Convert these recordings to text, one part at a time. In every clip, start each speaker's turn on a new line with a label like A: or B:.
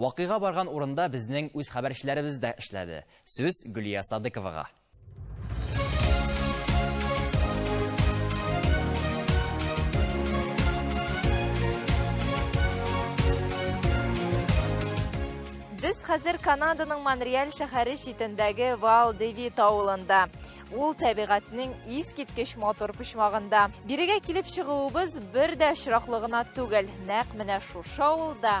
A: Вакыйга барган урында безнең үз хәбәрчеләребез дә эшләде. Сүз Гөлия Садыковага.
B: Без хәзер Канаданың Монреаль шәһәре читендәге Вал Девит авылында. Ул табигатьнең искиткеч мотор почмагында. Бирегә килеп чыгуыбыз бер дә очраклы гына түгел. Нәкъ менә шушы авылда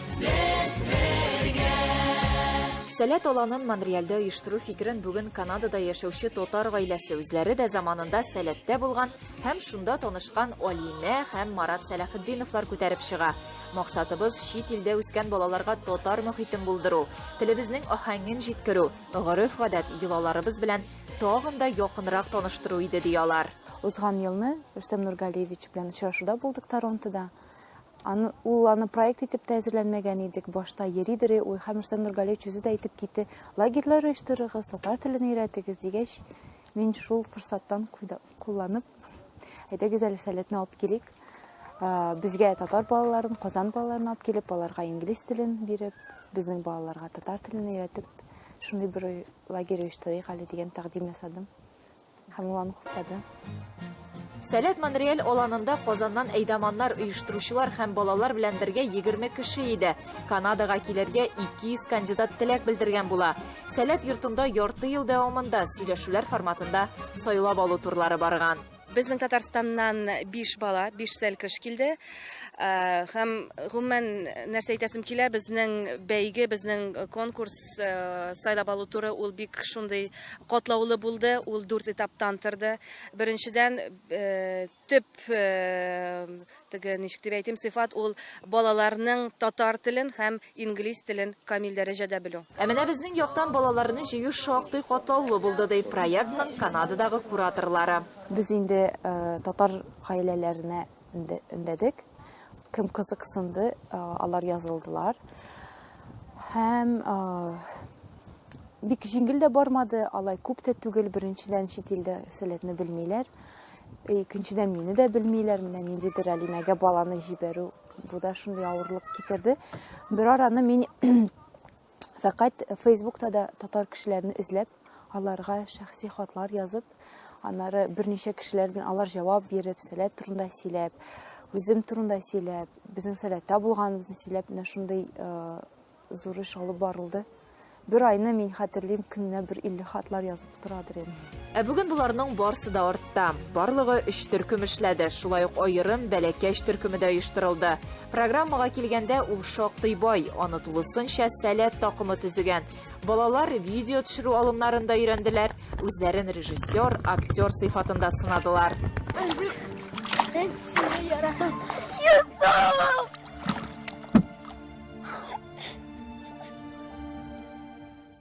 B: Без бергә! Сәләт аланын Монреальдә оештыру фикерен бүген Канадада яшәүче татар гаиләсе үзләре дә заманында Сәләттә булган һәм шунда танышкан Алимә һәм Марат Сәләхетдиновлар күтәреп чыга. Максатыбыз, чит илдә үскән балаларга татар мохитен булдыру, телебезнең аһәңен җиткерү, гореф-гадәт, йолаларыбыз белән тагын да якынрак таныштыру иде, ди алар. Узган елны
C: Рөстәм Нургалиевич белән очрашуда булдык Торонтода. Аны, ул аны проект итеп тә әзерләнмәгән идек. Башта йөридер уй һәм Рөстәм Нургалиевич үзе дә әйтеп китте, лагерьлар оештырыгыз, татар телен өйрәтегез дигәч, мин шул форсаттан кулланып, әйдәгез әле сәләтне алып килик. Безгә татар балаларын, Казан балаларын алып килеп, аларга инглиз телен биреп, безнең балаларга татар телен өйрәтеп, шундый бер лагерь оештырыйк әле дигән тәкъдим ясадым. Һәм ул аны хуплады.
B: Сәләт Монреаль аланында Казаннан әйдаманнар оештыручылар һәм балалар белән бергә 20 кеше иде. Канадага килергә 200 кандидат теләк белдергән була. Сәләт йортында ярты ел дәвамында сөйләшүләр форматында сайлап алу турлары барган. Безнең Татарстаннан
D: 5 бала, 5 сәлкеш килде. Һәм гомумән нәрсә әйтәсем килә, безнең бәйге, безнең конкурс сайлап алу туры ул бик шундый катлаулы булды, ул дүрт этаптан торды. Беренчедән, э, төп э, теге ничек дип әйтим, сыйфат ул балаларның татар телен һәм инглиз телен камил дәрәҗәдә белү. Ә менә безнең яктан
B: балаларны җыю шактый катлаулы булды, ди проектның Канададагы кураторлары. Без инде
C: э, татар гаиләләренә өндәдек. Кем кызыксынды, алар язылдылар. Һәм бик җиңел дә бармады, алай күп тә түгел, беренчедән чит илдә сәләтне белмиләр. Икенчедән мине дә белмиләр, менә ниндидер Алимәгә баланы җибәрү, бу да шундый авырлык китерде. Бер араны мин Фәкать Фейсбукта да татар кешеләрне эзләп, аларга шәхси хатлар язып, аннары берничә кешеләр белән алар җавап биреп, сәләт турында сөйләп, үзем турында сөйләп, безнең сәләттә булганыбызны сөйләп, менә шундый э, зур эш алып барылды. Бер айны мин хәтерлим, көненә бер 50 хатлар язып торадыр инде. Ә бүген боларның
B: барсы да артта. Барлыгы өч төркем эшләде, шулай ук аерым бәләкәч төркеме дә оештырылды. Программага килгәндә ул шактый бай, аны тулысынча сәләт такымы төзегән. Балалар видео төшерү алымнарында өйрәнделәр, үзләрен режиссер, актер сыйфатында сынадылар.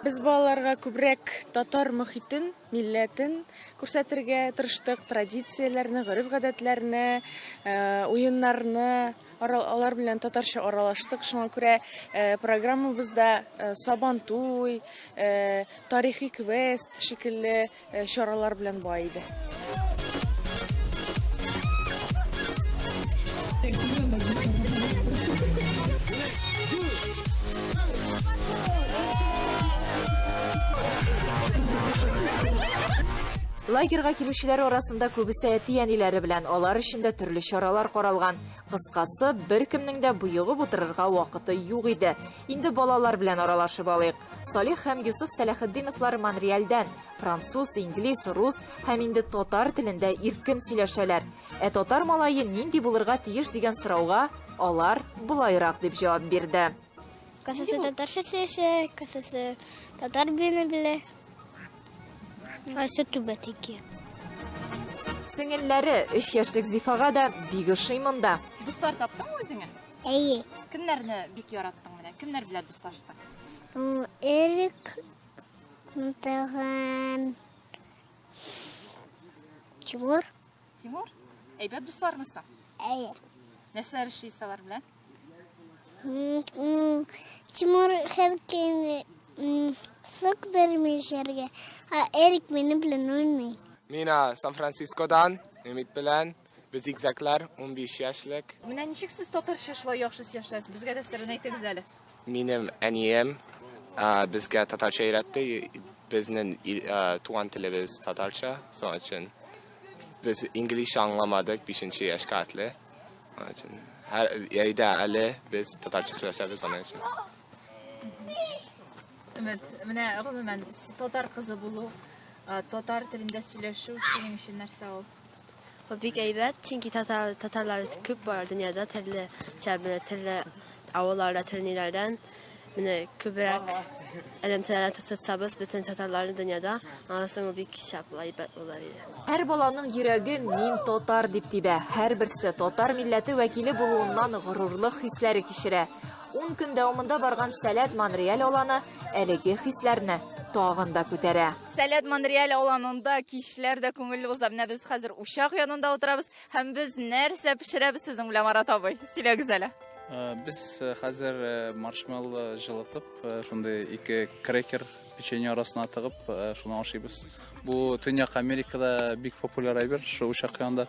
D: Без балаларга күбрәк татар мохитен, милләтен күрсәтергә тырыштык, традицияләрне, гореф-гадәтләрне, э, уеннарны, алар белән татарча аралаштык. Шуңа күрә э, программабызда э, Сабантуй, тарихи квест шикелле Чаралар белән бай иде.
B: Лагерга килүчеләр арасында күбесе әти-әниләре белән алар өчен дә төрле чаралар каралган. Кыскасы, беркемнең дә боегып утырырга вакыты юк иде. Инде балалар белән аралашып алыйк. Салих һәм Юсуф Сәләхетдиновлар Монреальдән, француз, инглиз, рус һәм инде татар телендә иркен сөйләшәләр. Ә татар малае нинди булырга тиеш дигән сорауга алар болайрак дип җавап бирде. Касасы
E: татарча сөйләшә, касасы татар билене белә. Асы түбә тики. Сеңелләре
B: 3 яшьлек Зифага да бик ошый монда. Дуслар таптыңмы
F: үзеңә? Әйе.
E: Кемнәрне бик
F: яраттың менә? Кемнәр белән дуслаштың? М,
E: Элек тагын Тимур. Тимур,
F: әйбәт дуслармысың? Әйе.
E: Нәрсәләр
F: эшлисез алар белән? М, м,
E: Тимур һәр көнне м, сок бирми эчәргә, ә Эрик минем белән уйный. Мина
G: Сан-Францискодан, Өмит белән. Без зигзаглар, 15 яшьлек. Менә ничек сез татарча
F: шулай яхшы сөйләшәсез? Безгә дә сырын әйтегез әле. Минем
G: әнием безгә татарча өйрәтте. Безнең туган телебез татарча, соң өчен без инглизчә аңламадык 5 яшькә атлы. Соң өчен һәр яйда әле без татарча сөйләшәбез соң өчен.
F: Өмет, менә гомумән татар кызы булу, татар телендә сөйләшү синең өчен нәрсә ул? Бик
H: әйбәт, чөнки татар татарлар күп бар дөньяда, төрле чәбне, төрле авылларда, төрле ниләрдән. Менә күбрәк элемтәләрне тотсабыз бөтен татарларны дөньяда, аннан ул бик шәп әйбәт булыр иде. Һәр баланың
B: йөрәге мин татар дип тибә. Һәрберсе татар милләте вәкиле булуыннан горурлык хисләре кичерә. Ун көн дәвамында барган Сәләт Монреаль аланы әлеге хисләрне тагын да күтәрә. Сәләт Монреаль
F: аланында кичләр дә күңелле уза. Менә без хәзер учак янында утырабыз һәм без нәрсә пешерәбез сезнең белән Марат абый? Сөйләгез әле. Э, без
I: э, хәзер э, маршмелло җылытып, шундый ике крекер печенье арасына тыгып, шуны ашыйбыз. Бу Төньяк Америкада бик популяр әйбер, шул учак янында.